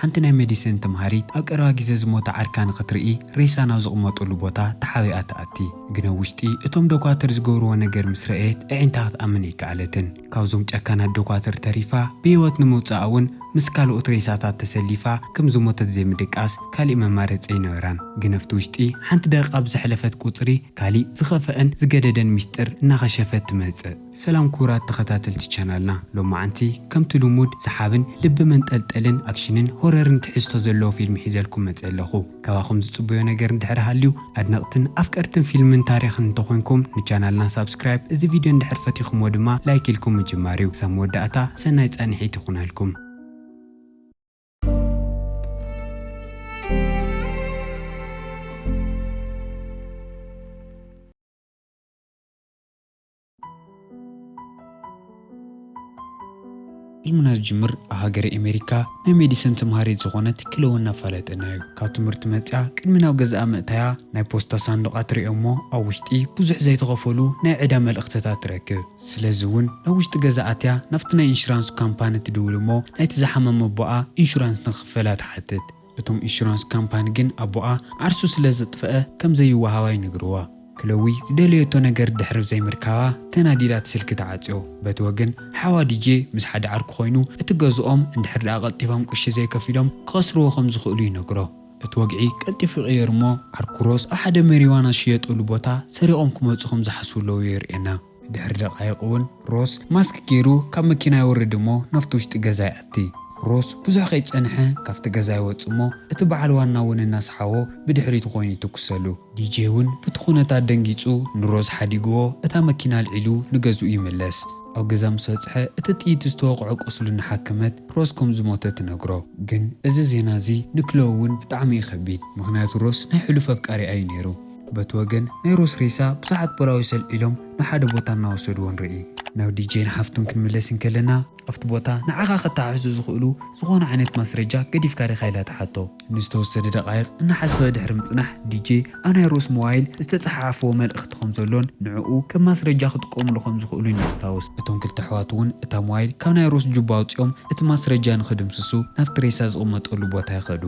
ሓንቲ ናይ መዲሰን ተምሃሪት ኣብ ቀረባ ግዜ ዝሞተ ዓርካ ንኽትርኢ ሬሳ ናብ ዝቕመጡሉ ቦታ ተሓቢኣ ትኣቲ። ግን ኣብ ውሽጢ እቶም ዶኳትር ዝገብርዎ ነገር ምስ ረኣየት ኣዒንታ ክትኣምን ኣይከኣለትን። ካብዞም ጨካናት ዶኳትር ተሪፋ ብህይወት ንምውጻኣ እውን ምስ ካልኦት ሬሳታት ተሰሊፋ ከም ዝሞተት ዘይምድቃስ ካሊእ መማረጺ ኣይነበራን። ግን ኣብቲ ውሽጢ ሓንቲ ደቒቕ ኣብ ዝሐለፈት ቁጽሪ ካሊእ ዝኸፈኣን ዝገደደን ሚስጥር እናኸሸፈት ትመጽእ። ሰላም ክቡራት ተኸታተልቲ ቻናልና ሎማዓንቲ ከምቲ ልሙድ ሰሓብን ልቢ መንጠልጠልን ኣክሽንን ሆረርን ትሕዝቶ ዘለዎ ፊልም ሒዘልኩም መጼ ኣለኹ ካባኹም ዝጽበዮ ነገር እንድሕር ሃልዩ ኣድነቅትን ኣፍቀርትን ፊልምን ታሪኽን እንተኾይንኩም ንቻናልና ሳብስክራይብ እዚ ቪድዮ እንድሕር ፈቲኹምዎ ድማ ላይክ ኢልኩም ምጅማርዩ ክሳብ መወዳእታ ሰናይ ጻንሒት ይኹነልኩም። ዕልምና ዝጅምር ኣብ ሃገረ ኤሜሪካ ናይ ሜዲስን ተምሃሪት ዝኾነት ክለወ እናፋለጠና እዩ። ካብ ትምህርቲ መጺኣ ቅድሚ ናብ ገዛኣ ምእታያ ናይ ፖስታ ሳንዱቓ ትርእዮ እሞ ኣብ ውሽጢ ብዙሕ ዘይተኸፈሉ ናይ ዕዳ መልእኽትታት ትረክብ። ስለዚ እውን ናብ ውሽጢ ገዛ ኣትያ ናብቲ ናይ ኢንሹራንስ ካምፓኒ ትድውል እሞ ናይቲ ዝሓመመ ኣቦኣ ኢንሹራንስ ንክኽፈላ ትሓትት። እቶም ኢንሹራንስ ካምፓኒ ግን ኣቦኣ ዓርሱ ስለ ዘጥፈኣ ከም ዘይወሃባ ይነግርዋ። ክሎዊ ዝደለየቶ ነገር ድሕሪ ዘይምርካባ ተናዲዳ እቲ ስልኪ ትዓጽዮ። በቲ ወገን ሓዋ ዲጄ ምስ ሓደ ዓርኩ ኮይኑ እቲ ገዝኦም እንድሕር ደኣ ቀልጢፎም ቅርሺ ዘይከፊሎም ክኸስርዎ ከም ዝኽእሉ ይነግሮ። እቲ ወግዒ ቀልጢፉ ይቕየር እሞ ዓርኩ ሮስ ኣብ ሓደ መሪዋና ዝሽየጠሉ ቦታ ሰሪቖም ክመጹ ከም ዝሓስቡ ሎዊ የርእየና። ድሕሪ ደቓይቕ እውን ሮስ ማስክ ገይሩ ካብ መኪና ይወርድ እሞ ናብቲ ውሽጢ ገዛ ይኣቲ። ሮስ ብዙሕ ከይጸንሐ ካብቲ ገዛ ይወጽእ እሞ እቲ በዓል ዋና እውን እናሰሓቦ ብድሕሪቱ ኮይኑ ይትኩሰሉ። ዲጄ እውን ብቲ ኩነታት ደንጊጹ ንሮስ ሓዲጉዎ እታ መኪና ኣልዒሉ ንገዝኡ ይምለስ። ኣብ ገዛ ምስ በጽሐ እቲ ጥይት ዝተወቕዖ ቁስሉ እናሓከመት ሮስ ከም ዝሞተት ትነግሮ። ግን እዚ ዜና እዚ ንክሎእ እውን ብጣዕሚ እዩ ከቢድ። ምኽንያቱ ሮስ ናይ ሕሉፍ ኣፍቃሪኣ እዩ ነይሩ። በቲ ወገን ናይ ሮስ ሬሳ ብዙሓት ፖላዊስ ኣልዒሎም ናብ ሓደ ቦታ እናወሰድዎ ንርኢ። ናብ ዲጄን ሓፍቱን ክንምለስ እንከለና። ኣብቲ ቦታ ንዓኻ ከተሓሕዙ ዝኽእሉ ዝኾነ ዓይነት ማስረጃ ገዲፍካ ዲኻ ኢላ ትሓቶ። ንዝተወሰደ ደቓይቕ እናሓሰበ ድሕሪ ምጽናሕ ዲጄ ኣብ ናይ ሮስ ሞባይል ዝተጸሓሓፍዎ መልእኽቲ ከም ዘሎን ንዕኡ ከም ማስረጃ ክጥቀሙሉ ከም ዝኽእሉን የስታውስ። እቶም ክልተ ኣሕዋት እውን እታ ሞባይል ካብ ናይ ሮስ ጁባ ኣውጺኦም እቲ ማስረጃ ንኽድምስሱ ናብቲ ሬሳ ዝቕመጠሉ ቦታ ይኸዱ።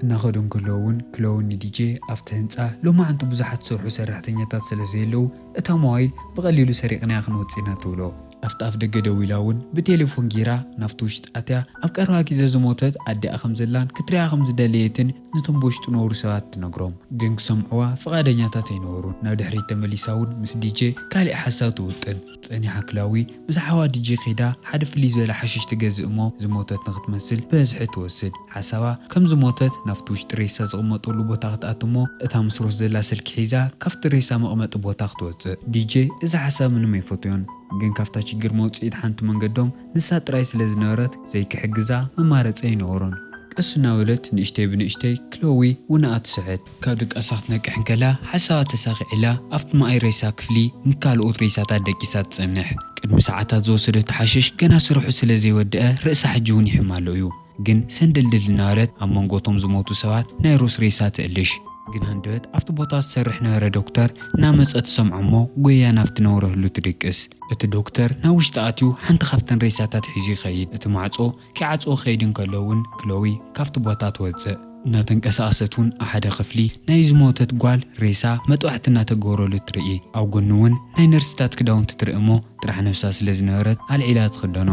እናኸዱ እንከለዉ እውን ክሎውኒ ዲጄ ኣብቲ ህንጻ ሎማዕንቲ ብዙሓት ዝሰርሑ ሰራሕተኛታት ስለ ዘየለዉ እታ ሞባይል ብቐሊሉ ሰሪቕናያ ክንወጽእ ኢና ትብሎ። ኣብቲ ኣፍደገ ደው ኢላ እውን ብቴሌፎን ገይራ ናብቲ ውሽጢ ኣትያ ኣብ ቀረባ ግዜ ዝሞተት ኣዲኣ ከም ዘላን ክትሪኣ ከም ዝደለየትን ነቶም ብውሽጢ ዝነብሩ ሰባት ትነግሮም። ግን ክሰምዕዋ ፍቓደኛታት ኣይነበሩን። ናብ ድሕሪት ተመሊሳ እውን ምስ ዲጄ ካሊእ ሓሳብ ትውጥን። ጸኒሓ ክላዊ ምስ ሓዋ ዲጂ ከይዳ ሓደ ፍልይ ዝበለ ሓሽሽ ትገዝእ እሞ ዝሞተት ንክትመስል ብበዝሒ ትወስድ። ሓሳባ ከም ዝሞተት ናብቲ ውሽጢ ሬሳ ዝቕመጠሉ ቦታ ክትኣቱ እሞ እታ ምስ ሮስ ዘላ ስልኪ ሒዛ ካብቲ ሬሳ መቕመጢ ቦታ ክትወጽእ። ዲጂ እዚ ሓሳብ ምንም ኣይፈትዮን ግን ካብታ ሽግር መውጽኢት ሓንቲ መንገዶም ንሳ ጥራይ ስለ ዝነበረት ዘይክሕግዛ መማረጺ ኣይነበሮን። ቀስ እናበለት ንእሽተይ ብንእሽተይ ክሎዊ ውነኣ ትስሕት። ካብ ድቃሳ ክትነቅሕ እንከላ ሓሳባት ተሳኺዑላ ኣብቲ መኣይ ሬሳ ክፍሊ ንካልኦት ሬሳታት ደቂሳ ትጸንሕ። ቅድሚ ሰዓታት ዝወሰደቶ ሓሽሽ ገና ስርሑ ስለዘይወደኣ ርእሳ ሕጂ'ውን ይሕማ'ሎ እዩ። ግን ሰንድልድል እናበለት ኣብ መንጎ እቶም ዝሞቱ ሰባት ናይ ሩስ ሬሳ ትእልሽ። ግን ሃንደበት ኣብቲ ቦታ ዝሰርሕ ነበረ ዶክተር እናመጸ ትሰምዖ'ሞ ጎይያ ናብቲ ነውሪ ህሉ ትድቅስ። እቲ ዶክተር ናብ ውሽጢ ኣትዩ ሓንቲ ካብተን ሬሳታት ሒዙ ይኸይድ። እቲ ማዕጾ። ኪዓጽዎ ክኸይድ እንከሎ ውን ክሎዊ ካብቲ ቦታ ትወጽእ። እናተንቀሳቐሰት ውን ኣብ ሓደ ክፍሊ ናይ ዝሞተት ጓል ሬሳ መጥባሕቲ እናተገብረሉ ትርኢ። ኣብ ጎኑ ውን ናይ ነርስታት ክዳውንቲ ትርኢ እሞ ጥራሕ ነብሳ ስለ ዝነበረት ኣልዒላ ትኽደኖ።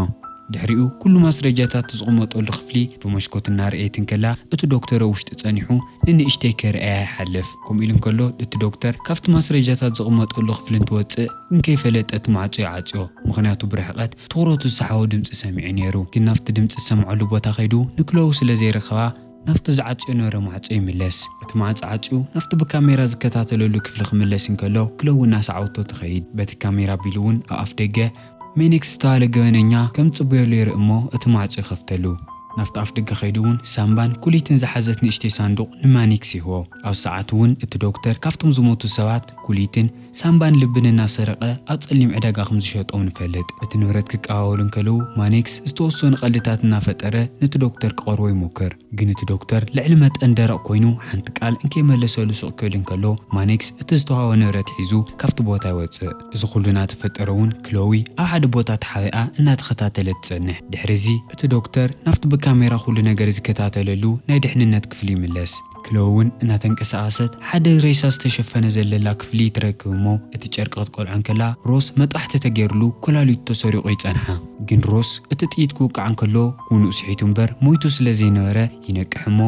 ድሕሪኡ ኩሉ ማስረጃታት ዝቕመጠሉ ክፍሊ ብመሽኮት እናርኣየት እንከላ እቲ ዶክተር ኣብ ውሽጢ ጸኒሑ ንንእሽተይ ከይርኣያ ይሓልፍ። ከምኡ ኢሉ እንከሎ እቲ ዶክተር ካብቲ ማስረጃታት ዝቕመጠሉ ክፍሊ እንትወጽእ ግን ከይፈለጠ እቲ ማዕጾ ይዓጽዮ ምኽንያቱ ብርሕቐት ትኹረቱ ዝሰሓቦ ድምጺ ሰሚዑ ነይሩ፣ ግን ናብቲ ድምጺ ዝሰምዐሉ ቦታ ከይዱ ንክለዉ ስለ ዘይረኸባ ናብቲ ዝዓጽዮ ነበረ ማዕጾ ይምለስ። እቲ ማዕጾ ዓጽዩ ናብቲ ብካሜራ ዝከታተለሉ ክፍሊ ክምለስ እንከሎ ክለዉ እናሰዓበቶ ትኸይድ። በቲ ካሜራ ኣቢሉ እውን ኣብ ኣፍደገ ሜኔክስ ዝተባህለ ገበነኛ ከም ዝጽበየሉ የርኢ እሞ እቲ ማዕጾ ይኸፍተሉ። ናብቲ ኣፍደገ ከይዱ እውን ሳምባን ኩሊትን ዝሓዘት ንእሽተይ ሳንዱቕ ንማኔክስ ይህቦ። ኣብዚ ሰዓት እውን እቲ ዶክተር ካብቶም ዝሞቱ ሰባት ኩሊትን፣ ሳንባን ልብን እናሰረቐ ኣብ ጸሊም ዕዳጋ ከም ዝሸጦም ንፈልጥ። እቲ ንብረት ክቀባበሉ እንከለዉ፣ ማኔክስ ዝተወሰኑ ቀልድታት እናፈጠረ ነቲ ዶክተር ክቐርቦ ይሞክር። ግን እቲ ዶክተር ልዕሊ መጠን ደረቕ ኮይኑ ሓንቲ ቃል እንከይመለሰሉ ስቕ ክብል እንከሎ፣ ማኔክስ እቲ ዝተዋህቦ ንብረት ሒዙ ካብቲ ቦታ ይወጽእ። እዚ ኹሉ እናተፈጠረ'ውን ክሎዊ ኣብ ሓደ ቦታ ተሓቢኣ እናተኸታተለት ትጸንሕ። ድሕሪ'ዚ እቲ ዶክተር ናብቲ ብካሜራ ኩሉ ነገር ዝከታተለሉ ናይ ድሕንነት ክፍሉ ይምለስ። ክለው'ውን እናተንቀሳቐሰት ሓደ ሬሳ ዝተሸፈነ ዘለላ ክፍሊ ትረክብ እሞ እቲ ጨርቂ ክትቆልዖ እንከላ ሮስ መጥቓሕቲ ተገይርሉ ኮላሊቱ ተሰሪቑ ይጸንሓ። ግን ሮስ እቲ ጥይት ክውቃዕ እንከሎ ውኑኡ ስሒቱ እምበር ሞይቱ ስለ ዘይነበረ ይነቅሕ እሞ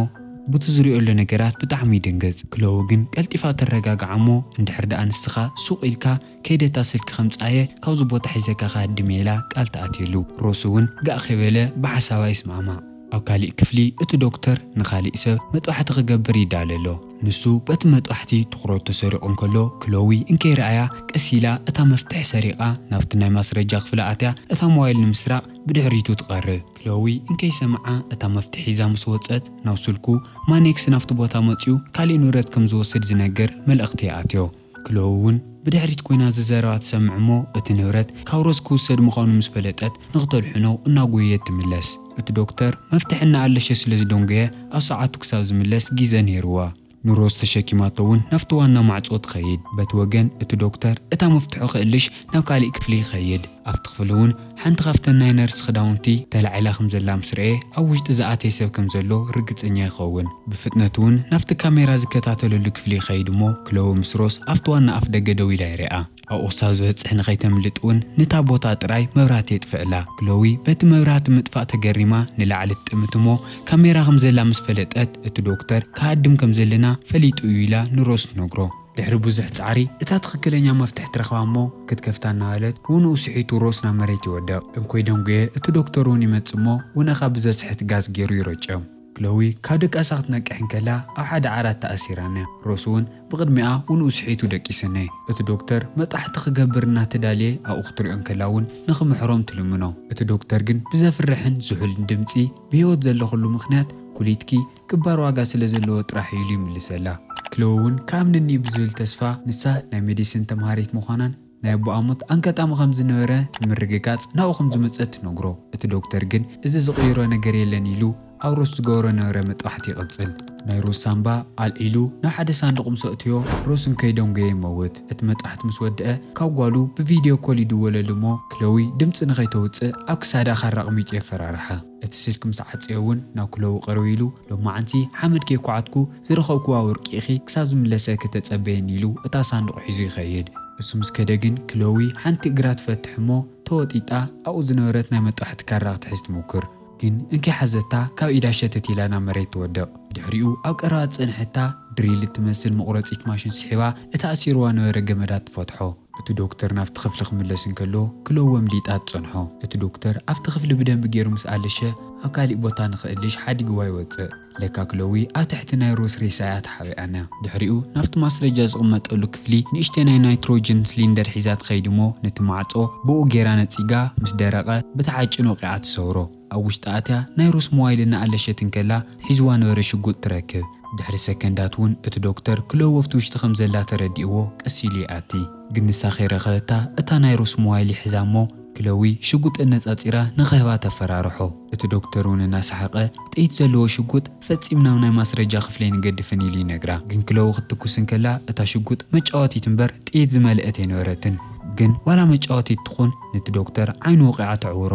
ቡቲ ዝሪኦሎ ነገራት ብጣዕሚ ይድንግጽ። ክለው ግን ቀልጢፋ ተረጋግዓ እሞ እንድሕር ደኣ ንስኻ ሱቕ ኢልካ ከይደ እታ ስልኪ ከምጽኣ'የ ካብዚ ቦታ ሒዘካ ክሃድም'የ ኢላ ቃል ትኣትየሉ። ሮሱ'ውን ጋእ ከይበለ ብሓሳባ ይስማዕማዕ። ኣብ ካሊእ ክፍሊ እቲ ዶክተር ንካሊእ ሰብ መጥባሕቲ ክገብር ይዳሎ ኣሎ። ንሱ በቲ መጥባሕቲ ትኹረቱ ተሰሪቑ እንከሎ ክሎዊ እንከይርኣያ ቀስ ኢላ እታ መፍትሒ ሰሪቓ ናብቲ ናይ ማስረጃ ክፍላ ኣትያ እታ ሞባይል ንምስራቕ ብድሕሪቱ ትቐርብ። ክሎዊ እንከይሰምዓ እታ መፍትሒ ሒዛ ምስ ወጸት ናብ ስልኩ ማኔክስ ናብቲ ቦታ መጺኡ ካሊእ ንብረት ከምዝወስድ ዝነግር መልእኽቲ ይኣትዮ። ክሎው እውን ብድሕሪት ኮይና እዚ ዘረባ ትሰምዕ እሞ እቲ ንብረት ካብ ሮዝ ክውሰድ ምዃኑ ምስ ፈለጠት ንክተድሕኖ እናጎየየት ትምለስ። እቲ ዶክተር መፍትሒ እናኣለሸ ስለ ዝደንጎየ ኣብ ሰዓቱ ክሳብ ዝምለስ ጊዘ ነይሩዋ። ንሮዝ ተሸኪማቶ እውን ናብቲ ዋና ማዕፆ ትኸይድ። በቲ ወገን እቲ ዶክተር እታ መፍትሖ ክእልሽ ናብ ካሊእ ክፍሊ ይኸይድ። ኣብቲ ክፍሊ ውን ሓንቲ ካብተን ናይ ነርስ ክዳውንቲ ተላዒላ ከም ዘላ ምስ ረኤ ኣብ ውሽጢ ዝኣተየ ሰብ ከም ዘሎ ርግጸኛ ይኸውን። ብፍጥነት ውን ናብቲ ካሜራ ዝከታተለሉ ክፍሊ ይኸይድ እሞ ክሎወ ምስ ሮስ ኣብቲ ዋና ኣፍደገ ደው ኢላ ይሪኣ። ኣብኡ ክሳብ ዝበጽሕ ንኸይተምልጥ ውን ንታ ቦታ ጥራይ መብራህቲ የጥፍእላ። ክሎዊ በቲ መብራህቲ ምጥፋእ ተገሪማ ንላዕሊ ትጥምት እሞ ካሜራ ከም ዘላ ምስ ፈለጠት እቲ ዶክተር ክሃድም ከም ዘለና ፈሊጡ እዩ ኢላ ንሮስ ትነግሮ። ድሕሪ ብዙሕ ጻዕሪ እታ ትኽክለኛ መፍትሕ ትረኽባ እሞ ክትከፍታ እናበለት ብውንኡ ስሒቱ ሮስ ናብ መሬት ይወድቕ። እንኮይ ደንጉየ እቲ ዶክተር እውን ይመጽእ እሞ ውነኻ ብዘስሕት ጋዝ ገይሩ ይረጨም። ክሎዊ ካብ ድቃሳ ክትነቅሕ እንከላ ኣብ ሓደ ዓራት ተኣሲራ'ያ። ሮስ እውን ብቕድሚኣ ውንኡ ስሒቱ ደቂስኔ። እቲ ዶክተር መጥቓሕቲ ክገብር እናተዳልየ ኣብኡ ክትሪኦ እንከላ እውን ንኽምሕሮም ትልምኖ። እቲ ዶክተር ግን ብዘፍርሕን ዝሑልን ድምጺ ብህይወት ዘለኹሉ ምኽንያት ኩሊትኪ፣ ክባር ዋጋ ስለ ዘለዎ ጥራሕ እዩ ኢሉ ይምልሰላ። ክለወ ውን ክኣምነኒ'ዩ ብዝብል ተስፋ፣ ንሳ ናይ መዲስን ተምሃሪት ምዃናን ናይ ኣቦኣ ሞት ኣንጋጣሚ ከም ዝነበረ ንምርግጋጽ ናብኡ ከም ዝመጸት ትነግሮ። እቲ ዶክተር ግን እዚ ዝቕይሮ ነገር የለን ኢሉ ኣብ ሮስ ዝገበሮ ነበረ መጥባሕቲ ይቕጽል። ናይ ሮስ ሳንባ ኣልዒሉ ናብ ሓደ ሳንዱቕ ምስ ኣእተዮ፣ ሮስ እንከይደንጎየ ይመውት። እቲ መጥባሕቲ ምስ ወድኣ ካብ ጓሉ ብቪድዮ ኮል ይድወለሉ እሞ ክለዊ ድምጺ ንኸይተውጽእ ኣብ ክሳዳ ካራ ኣቕሚጡ የፈራርሓ። እቲ ስልኪ ምስ ዓጸዮ ውን ናብ ክለቡ ቅርብ ኢሉ፣ ሎማዕንቲ ሓመድ ከይኳዓትኩ ዝረኸብኩዋ ወርቂ ኢኺ ክሳብ ዝምለሰኪ ተጸበይኒ ኢሉ እታ ሳንዱቕ ሒዙ ይኸይድ። እሱ ምስ ከደ ግን ክሎዊ ሓንቲ እግራ ትፈትሕ እሞ ተወጢጣ ኣብኡ ዝነበረት ናይ መጣውሐቲ ካራ ክትሕዝ ትሙክር። ግን እንኪ ሓዘታ ካብ ኢዳ ሸተት ኢላ ናብ መሬት ትወድቕ። ድሕሪኡ ኣብ ቀረባ ዝጸንሐታ ድሪል እትመስል መቑረጺት ማሽን ስሒባ እቲ ኣሲሩዋ ነበረ ገመዳት ትፈትሖ። እቲ ዶክተር ናብቲ ክፍሊ ክምለስ እንከሎ ክለዉ ኣምሊጣ ትጸንሖ። እቲ ዶክተር ኣብቲ ክፍሊ ብደንቢ ገይሩ ምስ ኣለሸ ኣብ ካሊእ ቦታ ንኽእልሽ ሓዲግዋ ይወጽእ። ለካ ክለዊ ኣብ ትሕቲ ናይ ሮስ ሬሳ እያ ተሓቢኣና። ድሕሪኡ ናብቲ ማስረጃ ዝቕመጠሉ ክፍሊ ንእሽተይ ናይ ናይትሮጅን ስሊንደር ሒዛ ትኸይድ'ሞ ነቲ ማዕጾ ብኡ ገይራ ነጺጋ ምስ ደረቐ ብተሓጭን ወቒዓ ትሰብሮ። ኣብ ውሽጢ ኣትያ ናይ ሩስ ሞባይል እናኣለሸት እንከላ ሒዙዋ ነበረ ሽጉጥ ትረክብ። ድሕሪ ሰከንዳት እውን እቲ ዶክተር ክልኦ ወፍቲ ውሽጢ ከም ዘላ ተረዲእዎ ቀስ ኢሉ ይኣቲ። ግን ንሳ ከይረኸበታ እታ ናይ ሩስ ሞባይል ይሕዛ እሞ ክለዊ ሽጉጥ ኣነጻጺራ ንኸህባ ተፈራርሖ። እቲ ዶክተር እውን እናሰሓቐ ጥይት ዘለዎ ሽጉጥ ፈጺም ናብ ናይ ማስረጃ ክፍሊ ኣይንገድፍን ኢሉ ይነግራ። ግን ክለዊ ክትትኩስ እንከላ እታ ሽጉጥ መጫወቲት እምበር ጥይት ዝመልአት ኣይነበረትን። ግን ዋላ መጫወቲት ትኹን ነቲ ዶክተር ዓይኑ ወቒዓ ተዕውሮ።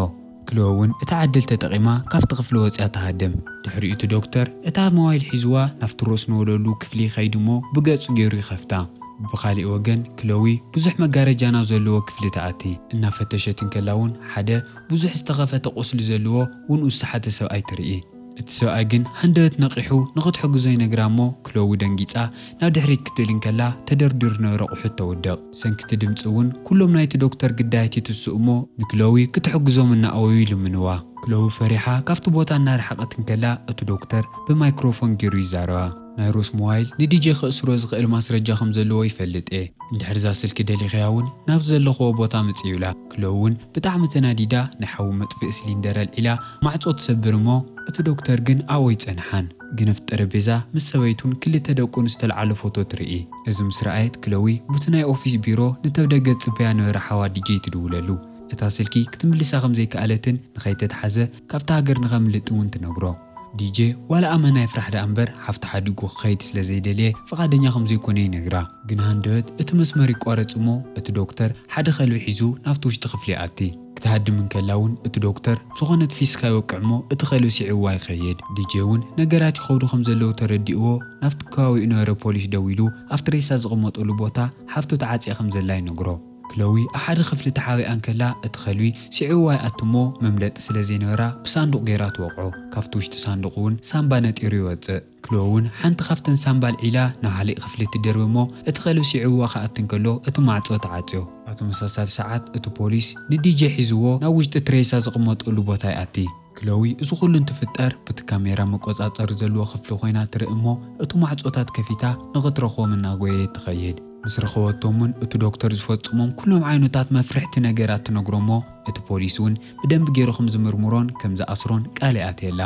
ክልኦ'ውን እታ ዕድል ተጠቒማ ካብቲ ክፍሊ ወጺኣ ትሃድም። ድሕሪኡ እቲ ዶክተር እታ ሞባይል ሒዙዋ ናብቲ ሮስ ንወለሉ ክፍሊ ይኸይድ'ሞ ብገጹ ገይሩ ይኸፍታ። ብኻሊእ ወገን ክሎዊ ብዙሕ መጋረጃ ናብ ዘለዎ ክፍሊ ትኣቲ። እናፈተሸት እንከላ'ውን ሓደ ብዙሕ ዝተኸፈተ ቁስሊ ዘለዎ ውን ውስሓተ ሰብኣይ ትርኢ። እቲ ሰብኣይ ግን ሃንደበት ነቒሑ ንኽትሕግዞ ይነግራ'ሞ ክሎዊ ደንጊጻ ናብ ድሕሪት ክትብል እንከላ ተደርዲሩ ዝነበረ ኣቑሑት ተውድቕ። ብሰንኪ እቲ ድምጺ'ውን ኩሎም ናይቲ ዶክተር ግዳያት ይትስኡ'ሞ ንክሎዊ ክትሕግዞም እናኣወዩ ይልምንዋ። ክሎዊ ፈሪሓ ካብቲ ቦታ እናረሓቐት እንከላ እቲ ዶክተር ብማይክሮፎን ጌሩ ይዛረባ። ናይ ሮስ ሞባይል ንዲጄ ከእስሮ ዝኽእል ማስረጃ ከም ዘለዎ ይፈልጥ'የ፣ እንድሕር'ዛ ስልኪ ደሊኽያ'ውን ናብዚ ዘለኹዎ ቦታ ምጽ ይብላ። ክሎ ውን ብጣዕሚ ተናዲዳ ናይ ሓዊ መጥፍኢ ስሊንደር ኣልዒላ ማዕጾ ትሰብር እሞ እቲ ዶክተር ግን ኣብኡ ኣይጸንሓን ግንፍት ጠረቤዛ ምስ ሰበይቱን ክልተ ደቁን ዝተልዓሎ ፎቶ ትርኢ እዚ ምስ ረኣየት ክሎዊ ቡቲ ናይ ኦፊስ ቢሮ ንተብደገ ትጽበያ ነበረ ሓዋ ዲጀይ ትድውለሉ እታ ስልኪ ክትምልሳ ከምዘይከኣለትን ንኸይተትሓዘ ካብታ ሃገር ንኸምልጥ ውን ትነግሮ ዲጄ ዋላ ኣመና ይፍራሕ ደኣ እምበር ሓፍቱ ሓዲጉ ክኸይድ ስለ ዘይደልየ ፍቓደኛ ከም ዘይኮነ ይነግራ። ግን ሃንደበት እቲ መስመር ይቋረጽ እሞ እቲ ዶክተር ሓደ ከልቢ ሒዙ ናብቲ ውሽጢ ክፍሊ ይኣቲ። ክትሃድም እንከላ እውን እቲ ዶክተር ዝኾነት ፊስካ ይወቅዕ እሞ እቲ ከልቢ ስዒብዋ ይኸይድ። ዲጄ እውን ነገራት ይኸብዱ ከም ዘለዉ ተረዲእዎ ናብቲ ከባቢኡ ነበረ ፖሊስ ደዊሉ ኣብቲ ሬሳ ዝቕመጠሉ ቦታ ሓፍቱ ተዓጽያ ከም ዘላ ይነግሮ። ክለዊ ኣብ ሓደ ክፍሊ ተሓቢኣ እንከላ እቲ ከልቢ ስዒብዋ ይኣቱ እሞ መምለጢ ስለ ዘይነበራ ብሳንዱቕ ገይራ ትወቕዖ። ካብቲ ውሽጢ ሳንዱቕ እውን ሳንባ ነጢሩ ይወጽእ። ክለዊ እውን ሓንቲ ካብተን ሳንባ ኣልዒላ ናብ ሓሊእ ክፍሊ ትድርቢ እሞ እቲ ከልቢ ስዒብዋ ክኣቱ እንከሎ እቲ ማዕጾ ትዓጽዮ። ኣብ ተመሳሳሊ ሰዓት እቲ ፖሊስ ንዲጀ ሒዝዎ ናብ ውሽጢ እቲ ሬሳ ዝቕመጠሉ ቦታ ይኣቲ። ክሎዊ እዚ ኩሉ እንትፍጠር ብቲ ካሜራ መቆጻጸሪ ዘለዎ ክፍሊ ኮይና ትርኢ እሞ እቲ ማዕጾታት ከፊታ ንኽትረኽቦም እናጎየየት ትኸይድ። ምስ ረኸበቶም እውን እቲ ዶክተር ዝፈጽሞም ኩሎም ዓይነታት መፍርሕቲ ነገራት ትነግሮ እሞ እቲ ፖሊስ እውን ብደንቢ ገይሩ ከም ዝምርምሮን ከም ዝኣስሮን ቃል ይኣትየላ።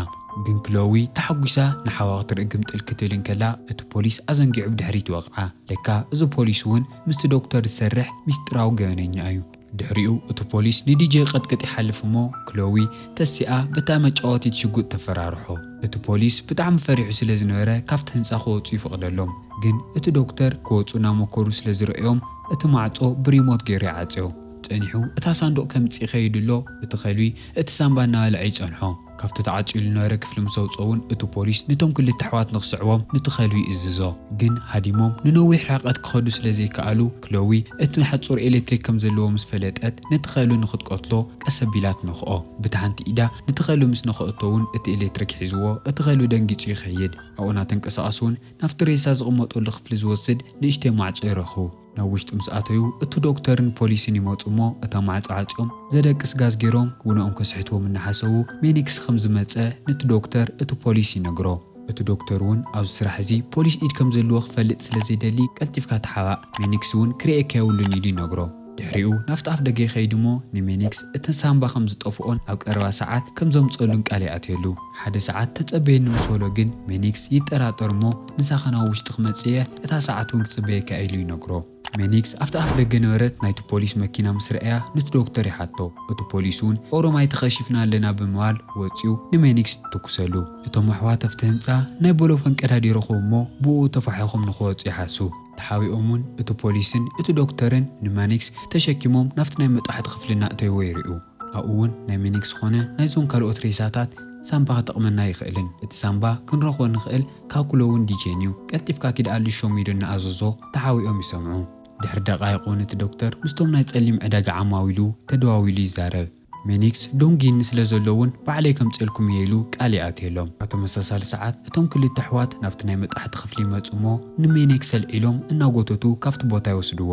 ግን ክሎዊ ተሓጒሳ ንሓዋ ክትርኢ ግምጥል ክትብል እንከላ እቲ ፖሊስ ኣዘንጊዑ ብድሕሪት ይወቕዓ። ለካ እዚ ፖሊስ እውን ምስቲ ዶክተር ዝሰርሕ ምስጢራዊ ገበነኛ እዩ። ድሕሪኡ እቲ ፖሊስ ንዲጄ ይቐጥቅጥ ይሓልፍ እሞ ክሎዊ ተሲኣ በታ መጫወቲት ሽጉጥ ተፈራርሖ። እቲ ፖሊስ ብጣዕሚ ፈሪሑ ስለ ዝነበረ ካብቲ ህንጻ ክወጹ ይፈቕደሎም። ግን እቲ ዶክተር ክወጹ እናሞከሩ ስለ ዝረኣዮም እቲ ማዕጾ ብሪሞት ገይሩ ይዓጽዮ። ጸኒሑ እታ ሳንዱቕ ከምጽእ ይኸይድ እሎ እቲ ከልቢ እቲ ሳንባ እናበልዐ ይጸንሖ። ካብቲ ተዓጽዩ ልነበረ ክፍሊ ምስ ኣውጽኦ'ውን እቲ ፖሊስ ነቶም ክልተ ኣሕዋት ንኽስዕቦም ንቲ ኸልዊ ይእዝዞ። ግን ሃዲሞም ንነዊሕ ርሕቐት ክኸዱ ስለ ዘይከኣሉ፣ ክሎዊ እቲ ናይ ሓጹር ኤለትሪክ ከም ዘለዎ ምስ ፈለጠት ነቲ ኸልዊ ንኽትቀትሎ ቀስ ኣቢላ ትነኽኦ። ብቲ ሓንቲ ኢዳ ነቲ ኸልዊ ምስ ነኸኦቶ'ውን እቲ ኤለትሪክ ሒዝዎ እቲ ኸልዊ ደንጊጹ ይኸይድ። ኣብኡ ናተንቀሳቐሱ'ውን ናብቲ ሬሳ ዝቕመጠሉ ክፍሊ ዝወስድ ንእሽተይ ማዕጾ ይረኽቡ። ናብ ውሽጢ ምስ ኣተዩ እቱ ዶክተርን ፖሊስን ይመፁ እሞ እታ ማዕፆ ዓፅዮም ዘደቅስ ጋዝ ገይሮም ውነኦም ከስሕትዎም እናሓሰቡ ሜኒክስ ኸም ዝመፀ ንቲ ዶክተር እቱ ፖሊስ ይነግሮ። እቱ ዶክተር እውን ኣብዚ ስራሕ እዚ ፖሊስ ኢድ ከም ዘለዎ ክፈልጥ ስለ ዘይደሊ ቀልጢፍካ ተሓባእ ሜኒክስ እውን ክሪኤካ የብሉን ኢሉ ይነግሮ። ድሕሪኡ ናፍቲ ኣፍ ደገ ይኸይድ እሞ ንሜኒክስ። እቲ ሳንባ ከም ዝጠፍኦን ኣብ ቀረባ ሰዓት ከም ዘምጽኣሉን ቃል ይኣትየሉ። ሓደ ሰዓት ተጸበየኒ ምስ በሎ ግን ሜኒክስ ይጠራጠር እሞ ምሳኻ ናብ ውሽጢ ክመጽእ እየ፣ እታ ሰዓት እውን ክጽበየካ እየ ኢሉ ይነግሮ። ሜኒክስ ኣብቲ ኣፍ ደገ ነበረት ናይቲ ፖሊስ መኪና ምስ ረኣያ ኑቲ ዶክተር ይሓቶ። እቲ ፖሊስ እውን ኦሮማይ ተኸሺፍና ኣለና ብምባል ወጺኡ ንሜኒክስ ይትኩሰሉ። እቶም ኣሕዋት ኣብቲ ህንጻ ናይ ቦሎፎን ቀዳዲ ይረኽቡ እሞ ብእኡ ተፋሒኾም ንኽወጹ ይሓሱ። ተሓቢኦም'ውን እቲ ፖሊስን እቲ ዶክተርን ንማኒክስ ተሸኪሞም ናብቲ ናይ መጥባሕቲ ክፍሊ እናእተይዎ ይርእዩ። ኣብኡ'ውን ናይ ሚኒክስ ኾነ ናይዞም ካልኦት ሬሳታት ሳንባ ክጠቕመና ኣይኽእልን። እቲ ሳንባ ክንረኽቦ እንኽእል ካብ ክሎውን ዲጄን'ዩ። ቀልጢፍካ ኪድ ኣልሾሚዶ እናኣዘዞ ተሓቢኦም ይሰምዑ። ድሕሪ ደቓይቕ'ውን እቲ ዶክተር ምስቶም ናይ ጸሊም ዕዳጋ ዓማዊሉ ተደዋዊሉ ይዛረብ። ሚኒክስ ዶንጊኒ ስለ ዘሎ እውን ባዕለይ ከምጽኤልኩም እየ ኢሉ ቃል ይኣትየሎም። ኣብ ተመሳሳሊ ሰዓት እቶም ክልተ ኣሕዋት ናብቲ ናይ መጣሕቲ ክፍሊ ይመጹ እሞ ንሚኒክስ ኣልዒሎም እናጎተቱ ካብቲ ቦታ ይወስድዎ።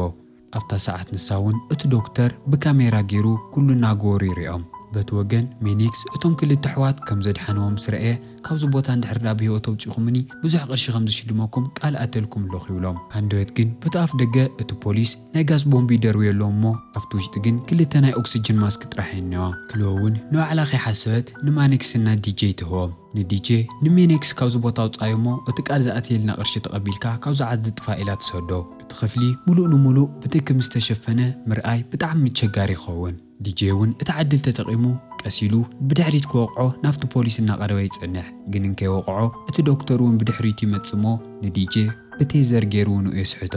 ኣብታ ሰዓት ንሳ እውን እቲ ዶክተር ብካሜራ ገይሩ ኩሉ እናገበሩ ይርእዮም። በቲ ወገን ሚኒክስ እቶም ክልተ ኣሕዋት ከም ዘድሓንዎ ምስ ረኣየ ካብዚ ቦታ እንድሕር ደኣ ብህይወት ኣውጺእኹምኒ ብዙሕ ቅርሺ ከም ዝሽልመኩም ቃል እኣትየልኩም ኣለኹ ይብሎም። ሃንደበት ግን በቲ ኣፍደገ እቲ ፖሊስ ናይ ጋዝ ቦምብ ይደርብዮ ኣለዉ እሞ ኣብቲ ውሽጢ ግን ክልተ ናይ ኦክስጅን ማስክ ጥራሕ እየን እኒዋ። ክልወ እውን ንባዕላ ከይሓሰበት ንማኔክስ እና ዲጄ ትህቦም። ንዲጄ ንሜኔክስ ካብዚ ቦታ ኣውፅኣዮ እሞ እቲ ቃል ዝኣትየልና ቅርሺ ተቐቢልካ ካብዚ ዓዲ ጥፋእ ኢላ ትሰዶ። እቲ ክፍሊ ሙሉእ ንሙሉእ ብትኪ ምስ ተሸፈነ ምርኣይ ብጣዕሚ እቸጋሪ ይኸውን። ዲጄ እውን እታ ዕድል ተጠቒሙ ቀስ ኢሉ ብድሕሪት ክወቕዖ ናብቲ ፖሊስ እናቐረበ ይጸንሕ ግን እንከይወቕዖ እቲ ዶክተር እውን ብድሕሪቱ ይመጽእ'ሞ ንዲጄ ብቴዘር ጌሩ ንኡ የስሕቶ።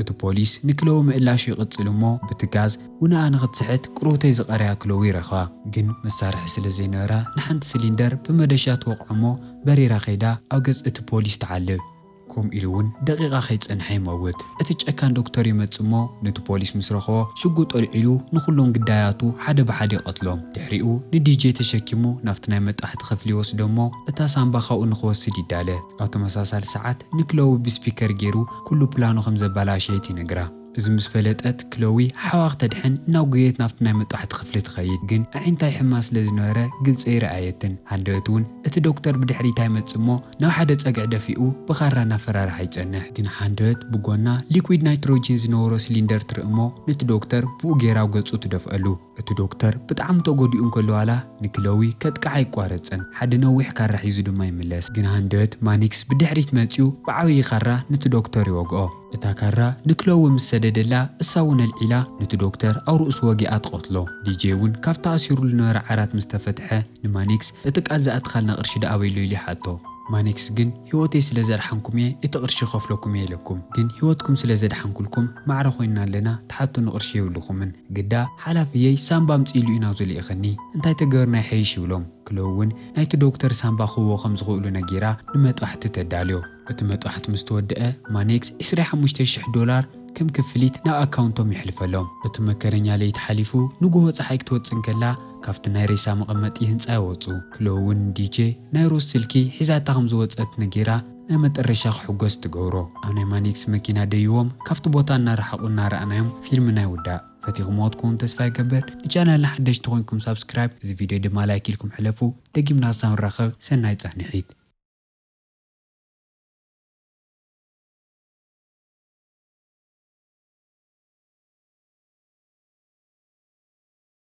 እቲ ፖሊስ ንክለዊ ምእላሹ ይቕጽል እሞ ብቲ ጋዝ ውንኣ ንክትስሕት ቅርውተይ ዝቐረያ ክለዊ ይረኽባ ግን መሳርሒ ስለ ዘይነበራ ንሓንቲ ስሊንደር ብመዶሻ ትወቕዖ'ሞ በሪራ ከይዳ ኣብ ገጽ እቲ ፖሊስ ትዓልብ። ከምኡ ኢሉ እውን ደቒቓ ከይጸንሐ ይመውት። እቲ ጨካን ዶክተር ይመጽእ እሞ ነቲ ፖሊስ ምስ ረኸቦ ሽጉጥ ኣልዒሉ ንኹሎም ግዳያቱ ሓደ ብሓደ ይቐትሎም። ድሕሪኡ ንዲጄ ተሸኪሙ ናብቲ ናይ መጣሕቲ ክፍሊ ይወስዶ እሞ እታ ሳንባ ካብኡ ንኽወስድ ይዳለ። ኣብ ተመሳሳሊ ሰዓት ንክለቡ ብስፒከር ገይሩ ኩሉ ፕላኑ ከም ዘበላሸየት ይነግራ። እዚ ምስ ፈለጠት ክሎዊ ሓዋ ክተድሕን እናጎየየት ናብቲ ናይ መጥባሕቲ ክፍሊ ትኸይድ። ግን ኣዒንታ ይሕማ ስለ ዝነበረ ግልጺ ኣይረኣየትን። ሃንደበት እውን እቲ ዶክተር ብድሕሪታ ይመጽእ እሞ ናብ ሓደ ጸግዒ ደፊኡ ብኻራ እናፈራርሓ ይጸንሕ። ግን ሃንደበት ብጎና ሊኩዊድ ናይትሮጂን ዝነበሮ ስሊንደር ትርኢ እሞ ነቲ ዶክተር ብኡ ገይራ ኣብ ገጹ ትደፍኣሉ። እቲ ዶክተር ብጣዕሚ ተጎዲኡ እንከሎ ዋላ ንክሎዊ ከጥቅዓ ኣይቋረጸን፣ ሓደ ነዊሕ ካራ ሒዙ ድማ ይምለስ። ግን ሃንደበት ማኒክስ ብድሕሪት መጺኡ ብዓብዪ ካራ ንቲ ዶክተር ይወግኦ። እታ ካራ ንክሎዊ ምስ ሰደደላ እሳ እውን ኣልዒላ ንቲ ዶክተር ኣብ ርእሱ ወጊኣ ትቐትሎ። ዲጀይ እውን ካብቲ ኣሲሩሉ ዝነበረ ዓራት ምስ ተፈትሐ፣ ንማኔክስ፣ እቲ ቃል ዝኣትኻልና ቅርሺ ደኣ ኣበይ'ሎ? ኢሉ ይሓቶ። ማኔክስ ግን፣ ህይወተይ ስለ ዘድሓንኩም'የ እቲ ቅርሺ ክኸፍለኩም'የ ኢለኩም። ግን ህይወትኩም ስለ ዘድሓንኩልኩም ማዕረ ኮይንና ኣለና ትሓቱኒ ቅርሺ የብልኹምን። ግዳ ሓላፍየይ ሳንባ ኣምጽእሉ እዩ ናብዚ ልኢኸኒ። እንታይ ተገበርና ይሐይሽ? ይብሎም። ክለው'ውን ናይቲ ዶክተር ሳንባ ክህብዎ ከም ዝኽእሉ ነጊራ ንመጥባሕቲ ተዳልዮ። እቲ መጥባሕቲ ምስ ተወድኣ ማኔክስ ዕስራይ ሓሙሽተ ሽሕ ዶላር ከም ክፍሊት ናብ ኣካውንቶም የሕልፈሎም። እቲ መከረኛ ለይቲ ሓሊፉ ንጉሆ ጸሓይ ክትወጽእ እንከላ፣ ካብቲ ናይ ሬሳ መቐመጢ ህንጻ ይወጹ። ክሎ'ውን ዲቼ ናይ ሮዝ ስልኪ ሒዛታ ከም ዝወጸት ነጊራ ናይ መጠረሻ ክሕጎስ ትገብሮ። ኣብ ናይ ማኒክስ መኪና ደይቦም ካብቲ ቦታ እናረሓቑ እናረኣናዮም ፊልምና ይውዳእ። ፈቲኹምዎ ክትኮኑ ተስፋ ይገብር። ንቻነልና ሓደሽቲ ኮይንኩም ሳብስክራይብ እዚ ቪድዮ ድማ ላይክ ኢልኩም ሕለፉ። ደጊምና ክሳብ ንራኸብ ሰናይ ጻንሒት።